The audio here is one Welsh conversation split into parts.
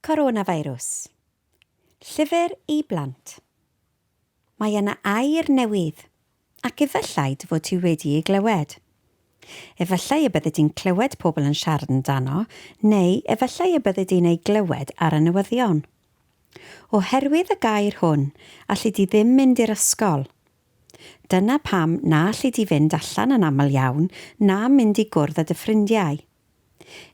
Coronafeirws. Llyfr i blant. Mae yna air newydd, ac efallai dy fod ti wedi ei glywed. Efallai y byddi di'n clywed pobl yn siarad amdano, neu efallai y byddi di'n ei glywed ar y newyddion. Oherwydd y gair hwn, alli di ddim mynd i'r ysgol. Dyna pam na alli di fynd allan yn aml iawn na mynd i gwrdd â dy ffrindiau.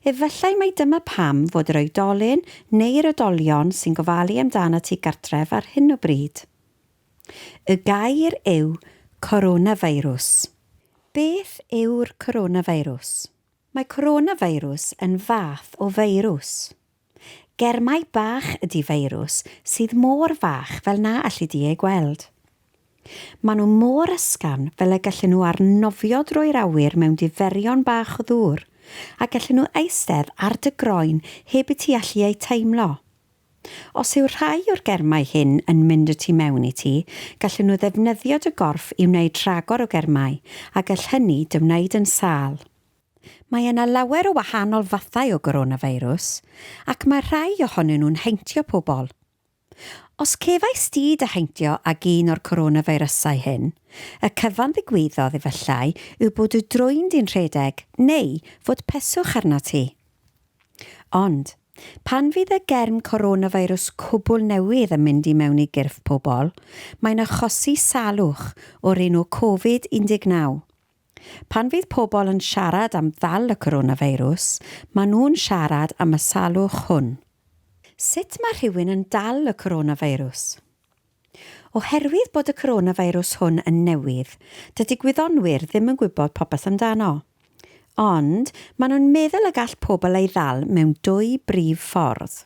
Efallai mai dyma pam fod yr oedolyn neu'r oedolion sy'n gofalu amdanat ti gartref ar hyn o bryd. Y gair yw 'coronafeirws'. Beth yw'r coronafeirws? Mae coronafeirws yn fath o feirws. Ger mai bach ydi feirws sydd mor fach fel na alli di eu gweld. Maen nhw mor ysgafn fel y gallen nhw arnofio drwy'r awyr mewn diferion bach o ddŵr a gallen nhw eistedd ar dy groen heb i ti allu eu teimlo. Os yw rhai o'r germau hyn yn mynd y tu mewn i ti, gallen nhw ddefnyddio dy gorff i wneud rhagor o germau a gall hynny dy wneud yn sâl. Mae yna lawer o wahanol fathau o goronafeirws, ac mae rhai ohonyn nhw'n heintio pobl. Os cefais di dy heintio ag un o'r coronafeirysau hyn, y cyfan ddigwyddodd efallai yw bod y drwyn di'n rhedeg neu fod peswch arnot ti. Ond, pan fydd y germ coronafeirws cwbl newydd yn mynd i mewn i gyrff pobl, mae'n achosi salwch o'r enw Covid 19. Pan fydd pobl yn siarad am ddal y coronafeirws, maen nhw'n siarad am y salwch hwn. Sut mae rhywun yn dal y coronafeirws? Oherwydd bod y coronafeirws hwn yn newydd, dydy gwyddonwyr ddim yn gwybod popeth amdano. Ond, maen nhw'n meddwl y gall pobl ei ddal mewn dwy brif ffordd.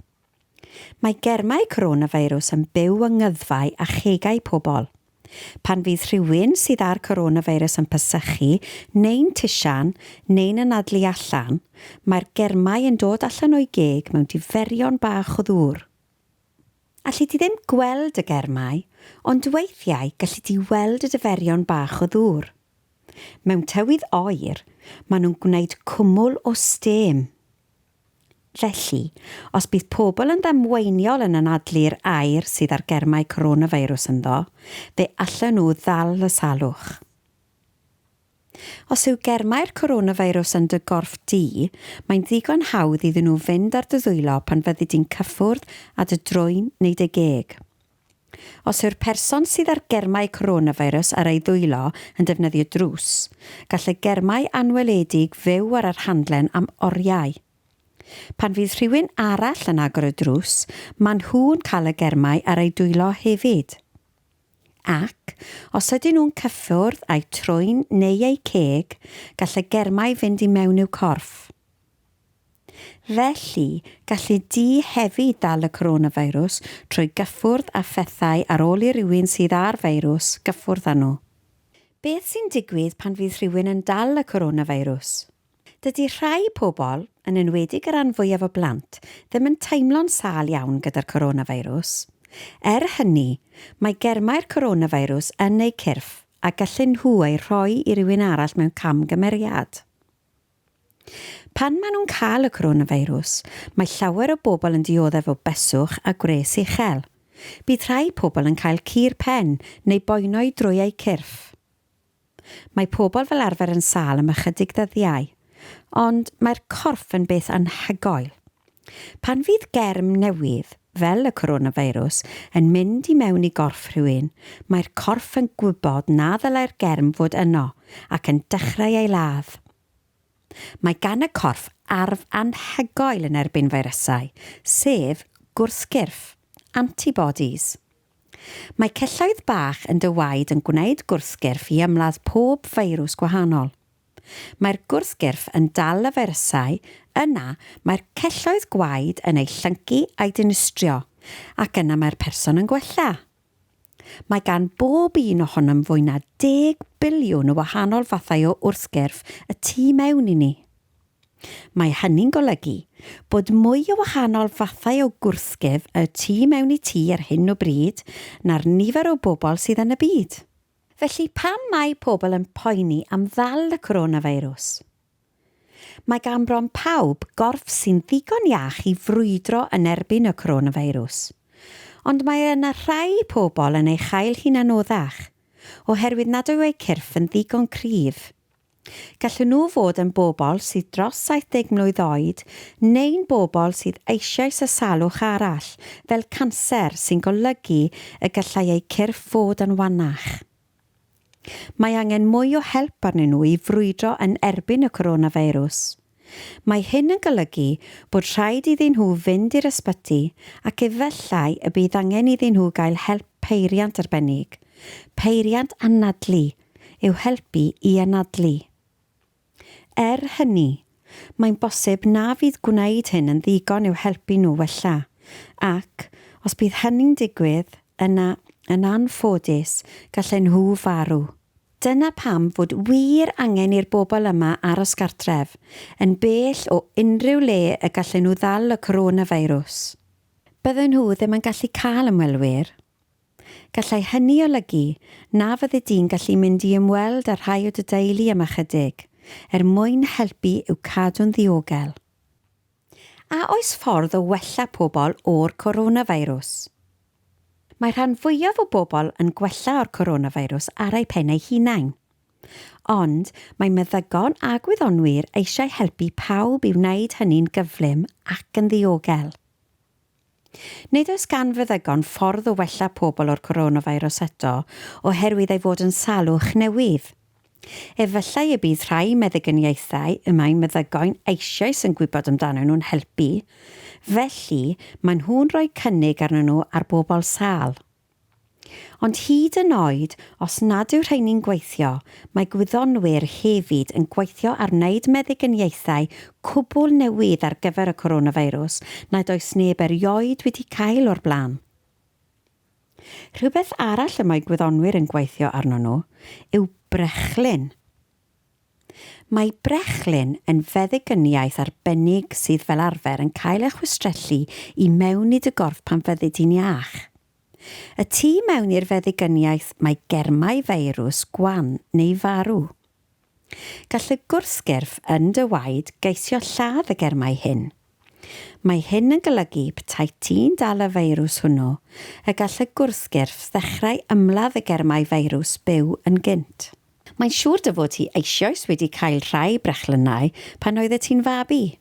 Mae germau coronafeirws yn byw yng ngyddfau a chegau pobl. Pan fydd rhywun sydd â'r coronafeirws yn pasychu neu'n tisian neu'n anadlu allan, mae'r germau yn dod allan o'i geg mewn diferion bach o ddŵr. Alli di ddim gweld y germau, ond weithiau galli di weld y diferion bach o ddŵr. Mewn tywydd oer, maen nhw'n gwneud cwmwl o stêm. Felly, os bydd pobl yn ddamweiniol yn anadlu'r air sydd â'r germau coronavirus ynddo, fe allen nhw ddal y salwch. Os yw germau'r coronavirus yn dy gorff di, mae'n ddigon hawdd iddyn nhw fynd ar dy ddwylo pan fyddi di'n cyffwrdd â dy drwyn neu dy geg. Os yw'r person sydd â'r germau coronavirus ar ei ddwylo yn defnyddio drws, gall y germau anweledig fyw ar yr handlen am oriau. Pan fydd rhywun arall yn agor y drws, maen nhw'n cael y germau ar eu dwylo hefyd. Ac, os ydyn nhw'n cyffwrdd â'u trwyn neu eu ceg, gall y germau fynd i mewn i'w corff. Felly, galli di hefyd ddal y coronafeirws trwy gyffwrdd â phethau ar ôl i rywun sydd â'r feirws gyffwrdd â nhw. Beth sy'n digwydd pan fydd rhywun yn dal y coronafeirws? Dydi rhai pobl, yn enwedig y rhan fwyaf o blant, ddim yn teimlo'n sâl iawn gyda'r coronafeirws. Er hynny, mae germau'r coronafeirws yn eu cyrff a gallen nhw eu rhoi i rywun arall mewn camgymeriad. Pan maen nhw'n cael y coronafeirws, mae llawer o bobl yn dioddef o beswch a gwres uchel. Bydd rhai pobl yn cael cur pen neu boenau drwy eu cyrff. Mae pobl fel arfer yn sâl am ychydig ddyddiau, ond mae'r corff yn beth anhygoel. Pan fydd germ newydd, fel y coronafeirws, yn mynd i mewn i gorff rhywun, mae'r corff yn gwybod na ddylai'r germ fod yno ac yn dechrau ei ladd. Mae gan y corff arf anhygoel yn erbyn feirysau, sef gwrthgyrff, antibodies. Mae celloedd bach yn dy waed yn gwneud gwrthgyrff i ymladd pob feirws gwahanol. Mae'r gwrthgyrff yn dal y feirysau, yna mae'r celloedd gwaed yn eu llyncu a'u dinistrio, ac yna mae'r person yn gwella. Mae gan bob un ohonom fwy na deg biliwn o wahanol fathau o wrthgyrff y tu mewn i ni. Mae hynny'n golygu bod mwy o wahanol fathau o gwrthgyrff y tu mewn i ti ar hyn o bryd na'r nifer o bobl sydd yn y byd. Felly pam mae pobl yn poeni am ddal y coronafeirws? Mae gan bron pawb gorff sy'n ddigon iach i frwydro yn erbyn y coronafeirws. Ond mae yna rhai pobl yn ei chael hi'n anoddach, oherwydd nad yw eu cyrff yn ddigon cryf. Gallen nhw fod yn bobl sydd dros 70 mlwydd oed neu'n bobl sydd eisoes â salwch arall, fel canser, sy'n golygu y gallai eu cyrff fod yn wannach. Mae angen mwy o help arnyn nhw i frwydro yn erbyn y coronafeirws. Mae hyn yn golygu bod rhaid iddyn nhw fynd i'r ysbyty ac efallai y bydd angen iddyn nhw gael help peiriant arbennig, peiriant anadlu, i'w helpu i anadlu. Er hynny, mae'n bosib na fydd gwneud hyn yn ddigon i'w helpu nhw wella, ac, os bydd hynny'n digwydd, yna, yn anffodus, gallen nhw farw. Dyna pam fod wir angen i'r bobl yma aros gartref, yn bell o unrhyw le y gallen nhw ddal y coronafeirws. Bydden nhw ddim yn gallu cael ymwelwyr. Gallai hynny olygu na fyddi di'n gallu mynd i ymweld â rhai o dy deulu am ychydig, er mwyn helpu i'w cadw'n ddiogel. A oes ffordd o wella pobl o'r coronafeirws? Mae rhan fwyaf o bobl yn gwella o'r coronafeirws ar eu pen eu hunain. Ond mae meddygon a gwyddonwyr eisiau helpu pawb i wneud hynny'n gyflym ac yn ddiogel. Nid oes gan feddygon ffordd o wella pobl o'r coronavirus eto oherwydd ei fod yn salwch newydd. Efallai y bydd rhai meddyginiaethau y mae meddygo'n eisioes yn gwybod amdanyn nhw'n helpu, felly maen nhw'n rhoi cynnig arnyn nhw ar bobl sâl. Ond hyd yn oed os nad yw rheini'n gweithio, mae gwyddonwyr hefyd yn gweithio ar wneud meddyginiaethau cwbl newydd ar gyfer y coronafeirws nad oes neb erioed wedi cael o'r blaen. Rhywbeth arall y mae gwyddonwyr yn gweithio arno nhw yw brechlyn. Mae brechlyn yn feddygyniaeth arbennig sydd fel arfer yn cael ei chwistrellu i mewn i dy gorff pan fyddid ti'n iach. Y tu mewn i'r feddygyniaeth mae germau feirws gwan neu farw. Gall y gwrthgyrff yn dy waed geisio lladd y germau hyn, Mae hyn yn golygu petai ti'n dal y feirws hwnnw, y gall y gwrthgyrff ddechrau ymladd y germau feirws byw yn gynt. Mae'n siŵr dy fod ti eisioes wedi cael rhai brechlynnau pan oeddet ti'n fabi.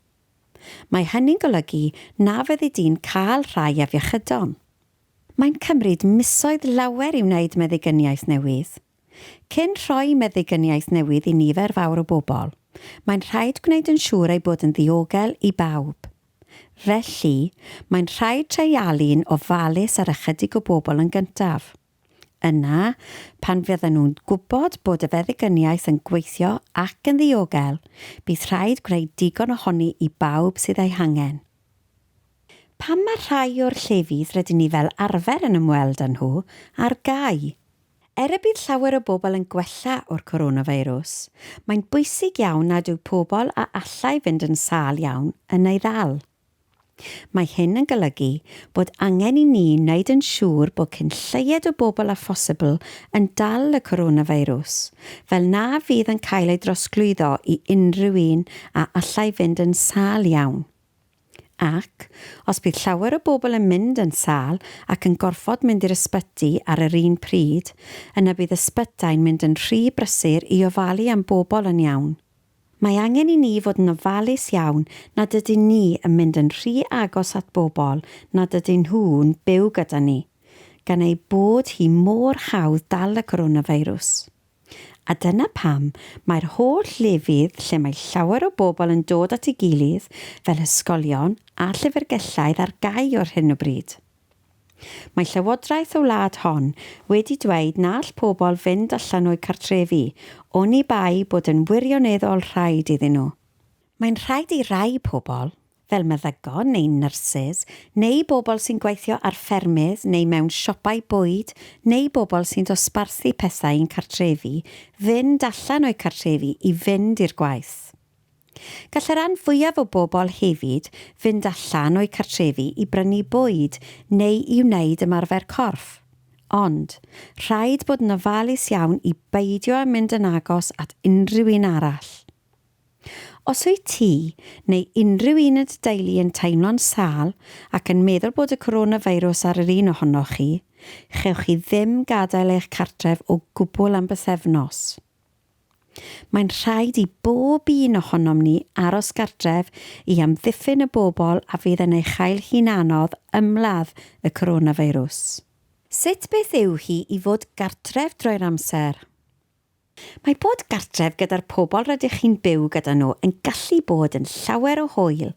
Mae hynny'n golygu na fyddi di'n cael rhai afiechydon. Mae'n cymryd misoedd lawer i wneud meddigyniaeth newydd. Cyn rhoi meddygyniaeth newydd i nifer fawr o bobl, mae'n rhaid gwneud yn siŵr ei bod yn ddiogel i bawb. Felly, mae'n rhaid treialu'n ofalus ar ychydig o bobl yn gyntaf. Yna, pan fyddan nhw'n gwybod bod y feddygyniaeth yn gweithio ac yn ddiogel, bydd rhaid gwneud digon ohoni i bawb sydd ei hangen. Pam mae rhai o'r llefydd rydyn ni fel arfer yn ymweld â nhw ar gau? Er y bydd llawer o bobl yn gwella o'r coronafeirws, mae'n bwysig iawn nad yw pobl a allai fynd yn sâl iawn yn ei ddal. Mae hyn yn golygu bod angen i ni wneud yn siŵr bod cyn lleied o bobl â phosibl yn dal y coronafeirws, fel na fydd yn cael ei drosglwyddo i unrhyw un a allai fynd yn sâl iawn. Ac, os bydd llawer o bobl yn mynd yn sâl ac yn gorfod mynd i'r ysbyty ar yr un pryd, yna bydd ysbytai'n mynd yn rhy brysur i ofalu am bobl yn iawn. Mae angen i ni fod yn ofalus iawn nad ydyn ni yn mynd yn rhy agos at bobl nad ydyn nhw'n byw gyda ni, gan eu bod hi mor hawdd dal y coronafeirws. A dyna pam mae'r holl lefydd lle mae llawer o bobl yn dod at ei gilydd, fel hysgolion a llyfrgelloedd ar gau o'r hyn o bryd. Mae llywodraeth y wlad hon wedi dweud na all pobl fynd allan o'u cartrefi oni bai bod yn wirioneddol rhaid iddyn nhw. Mae'n rhaid i rai pobl, fel meddygon neu nyrsys, neu bobl sy'n gweithio ar ffermydd neu mewn siopau bwyd, neu bobl sy'n dosbarthu pethau i'n cartrefi, fynd allan o'u cartrefi i fynd i'r gwaith. Gall y rhan fwyaf o bobl hefyd fynd allan o'u cartrefi i brynu bwyd neu i wneud ymarfer corff. Ond, rhaid bod yn ofalus iawn i beidio â mynd yn agos at unrhyw un arall. Os wyt ti, neu unrhyw un yn dy deulu yn teimlo'n sâl ac yn meddwl bod y coronafeirws ar yr un ohonoch chi, chewch chi ddim gadael eich cartref o gwbl am bythefnos. Mae'n rhaid i bob un ohonom ni aros gartref i amddiffyn y bobl a fydd yn ei chael hi'n anodd ymladd y coronafeirws. Sut beth yw hi i fod gartref drwy'r amser? Mae bod gartref gyda'r pobl rydych chi'n byw gyda nhw yn gallu bod yn llawer o hwyl.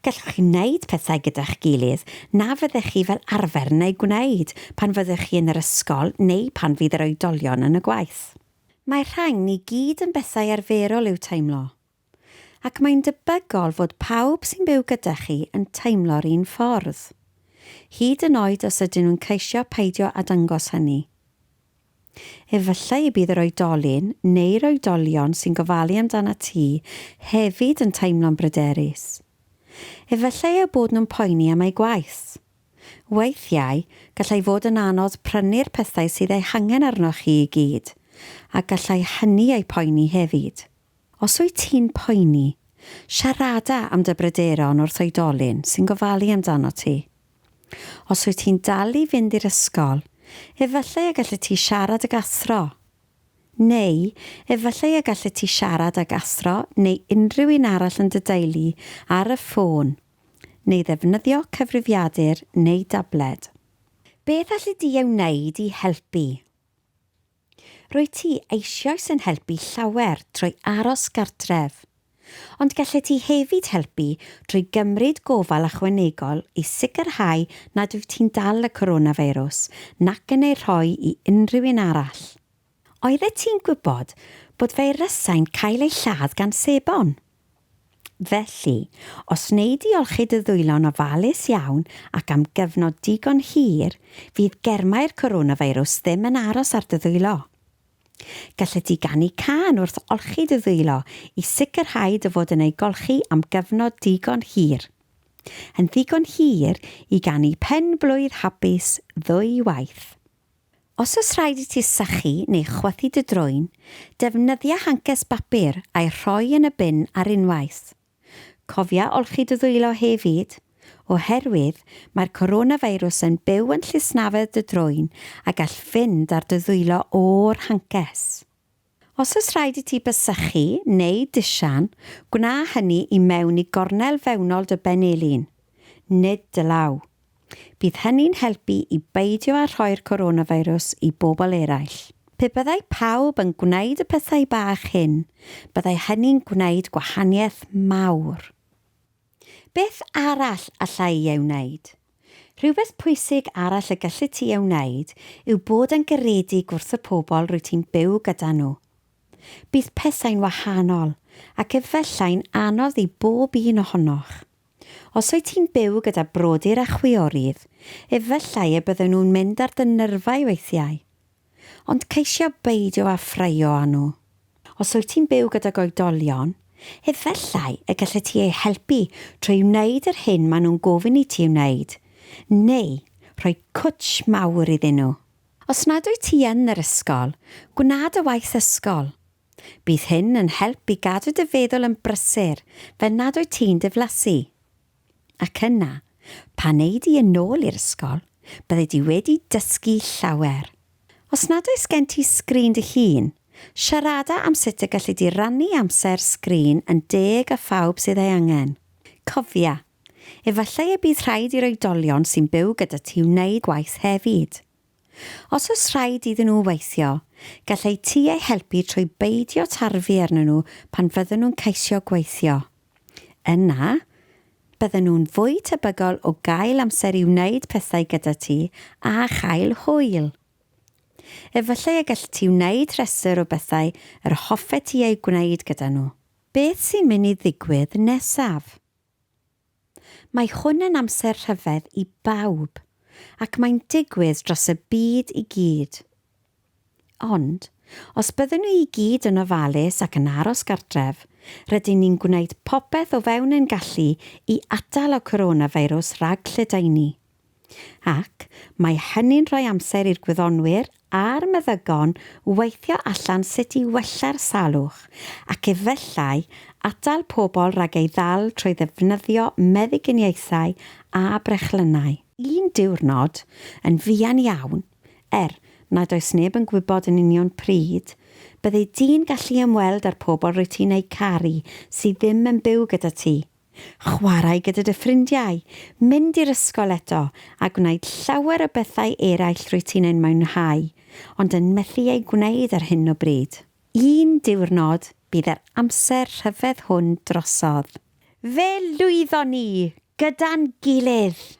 Gallwch chi wneud pethau gyda'ch gilydd na fyddech chi fel arfer yn eu gwneud pan fyddwch chi yn yr ysgol neu pan fydd yr oedolion yn y gwaith. Mae rhagn i gyd yn bethau arferol i'w teimlo. Ac mae'n debygol fod pawb sy'n byw gyda chi yn teimlo'r un ffordd. Hyd yn oed os ydyn nhw'n ceisio peidio â dangos hynny. Efallai y bydd yr oedolyn, neu'r oedolion sy'n gofalu amdanat ti, hefyd yn teimlo'n bryderus. Efallai eu bod nhw'n poeni am eu gwaith. Weithiau, gallai fod yn anodd prynu'r pethau sydd eu hangen arnoch chi i gyd, a gallai hynny eu poeni hefyd. Os wyt ti'n poeni, siarada am dy bryderon wrth oedolyn sy'n gofalu amdanot ti. Os wyt ti'n dal i fynd i'r ysgol, efallai y gallet ti siarad ag athro. Neu, efallai y gallet ti siarad ag athro neu unrhyw un arall yn dy deulu ar y ffôn, neu ddefnyddio cyfrifiadur neu dabled. Beth allet ti ei wneud i helpu? Rwyt ti eisioes yn helpu llawer trwy aros gartref, ond gallet ti hefyd helpu drwy gymryd gofal ychwanegol i sicrhau nad wyt ti'n dal y coronafeirws nac yn ei rhoi i unrhyw un arall. Oeddet ti'n gwybod bod feirysau'n cael eu lladd gan sebon? Felly, os wnei di olchi dy ddwylo'n ofalus iawn ac am gyfnod digon hir, fydd germau'r coronafeirws ddim yn aros ar dy ddwylo. Gallet ti ganu cân wrth olchi dy ddwylo i sicrhau dy fod yn ei golchi am gyfnod digon hir. Yn ddigon hir i ganu Pen-blwydd Hapus ddwy waith. Os oes rhaid i ti sychu neu chwythu dy drwyn, defnyddia hancers bapur a'i rhoi yn y bin ar unwaith. Cofia olchi dy ddwylo hefyd, oherwydd mae'r coronafeirws yn byw yn llysnafedd dy drwyn a gall fynd ar dy ddwylo o'r hancers. Os oes rhaid i ti basychu neu disian, gwna hynny i mewn i gornel fewnol dy benelin, nid dy law. Bydd hynny'n helpu i beidio â rhoi'r coronafeirws i bobl eraill. Pe byddai pawb yn gwneud y pethau bach hyn, byddai hynny'n gwneud gwahaniaeth mawr. Beth arall alla i ei wneud? Rhywbeth pwysig arall y galli ti ei wneud yw bod yn garedig wrth y pobl rwyt ti'n byw gyda nhw. Bydd pethau'n wahanol, ac efallai'n anodd i bob un ohonoch. Os wyt ti'n byw gyda brodyr a chwiorydd, efallai y bydden nhw'n mynd ar dy nyrfau weithiau. ond ceisio beidio â ffraeo â nhw. Os wyt ti'n byw gydag oedolion, efallai y gallet ti eu helpu trwy wneud yr hyn maen nhw'n gofyn i ti ei wneud, neu rhoi cwtsh mawr iddyn nhw. Os nad wyt ti yn yr ysgol, gwna dy waith ysgol. Bydd hyn yn help i gadw dy feddwl yn brysur fel nad wyt ti'n diflasu. Ac yna, pan ei di yn ôl i'r ysgol, byddai di wedi dysgu llawer. Os nad oes gen ti sgrin dy hun, siarada am sut y galli di rannu amser sgrin yn deg â phawb sydd ei angen. Cofia, efallai y bydd rhaid i'r oedolion sy'n byw gyda ti wneud gwaith hefyd. Os oes rhaid iddyn nhw weithio, gall eu tŷ eu helpu trwy beidio tarfu arnyn nhw pan fyddyn nhw'n ceisio gweithio. Yna, bydden nhw'n fwy tebygol o gael amser i wneud pethau gyda ti a chael hwyl. Efallai y gallet ti wneud rhestr o bethau yr hoffet ti eu gwneud gyda nhw. Beth sy'n mynd i ddigwydd nesaf? Mae hwn yn amser rhyfedd i bawb, ac mae'n digwydd dros y byd i gyd. Ond, os byddwn ni i gyd yn ofalus ac yn aros gartref, rydyn ni'n gwneud popeth o fewn ein gallu i atal y coronafeirws rhag lledaenu. Ac mae hynny'n rhoi amser i'r gwyddonwyr a'r meddygon weithio allan sut i wella'r salwch ac efallai atal pobl rhag ei ddal trwy ddefnyddio meddyginiaethau a brechlynnau. Un diwrnod, yn fuan iawn, er nad oes neb yn gwybod yn union pryd, byddi di'n gallu ymweld â'r pobl rwyt ti'n eu caru sydd ddim yn byw gyda ti, Chwarae gyda dy ffrindiau, mynd i'r ysgol eto, a gwneud llawer o bethau eraill rwyt ti'n eu mwynhau, ond yn methu eu gwneud ar hyn o bryd. Un diwrnod, bydd yr amser rhyfedd hwn drosodd. Fe lwyddon ni! Gyda'n gilydd!